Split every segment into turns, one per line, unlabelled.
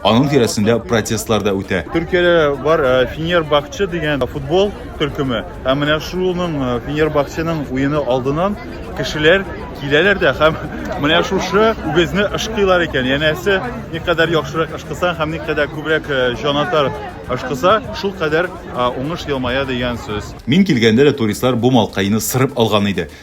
Аның тирәсендә протестлар да үтә. Төркиядә бар э,
Фенербахче дигән футбол төркеме. Һәм менә шуның э, Фенербахченың уены алдынан кешеләр киләләр дә һәм менә шушы үгезне ышкыйлар икән. Янәсе, никадәр яхшырак ышкысан һәм никадәр күбрәк э, җанатар ышкыса, шул кадәр уңыш елмая дигән сүз. Мин килгәндә дә туристлар
бу малкайны сырып алган иде.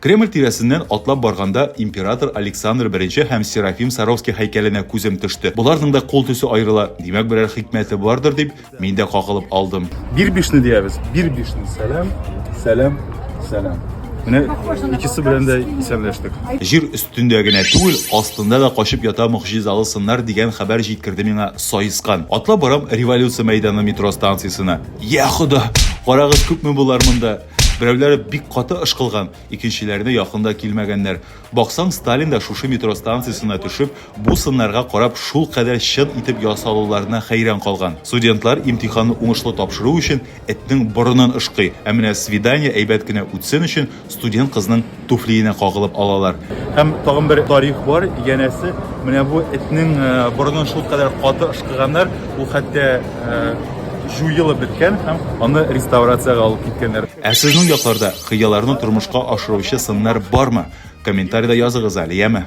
Кремль тирәсеннән атлап барганда, император Александр I һәм Серафим Саровский һәйкәленә күзем төште. Боларның да кул төсе аерыла, димәк, берәр хикмәте бардыр, дип, мин дә кагылып алдым. Бирбишны диябез.
Бирбишны. Сәлам, сәлам, сәлам. Менә икесе белән дә исәнләштек. Җир өстендә
генә түгел, астында да качып ята могҗизалы сыннар дигән хәбәр җиткерде миңа саескан. Атлап барам Революция мәйданы метро станциясенә. Я хода! Карагыз, күпме болар монда! Берәүләре бик каты ышкылган, икенчеләренә якын да килмәгәннәр. Баксаң, Сталин да шушы метро станциясенә төшеп, бу сыннарга карап, шулкадәр чын итеп ясалуларына хәйран калган. Студентлар имтиханны уңышлы тапшыру өчен этнең борынын ышкый, ә менә свидание әйбәт кенә үтсен өчен студент кызның туфлиенә кагылып алалар. Һәм тагын бер
тарих бар, янәсе, менә бу этнең э, борынын шул кадәр каты ышкыганнар, ул хәтта э, җуелып беткән һәм аны реставрациягә алып киткәннәр. Ә сезнең якларда
хыялларны тормышка ашыручы сыннар бармы? Комментариядә языгыз әле, яме?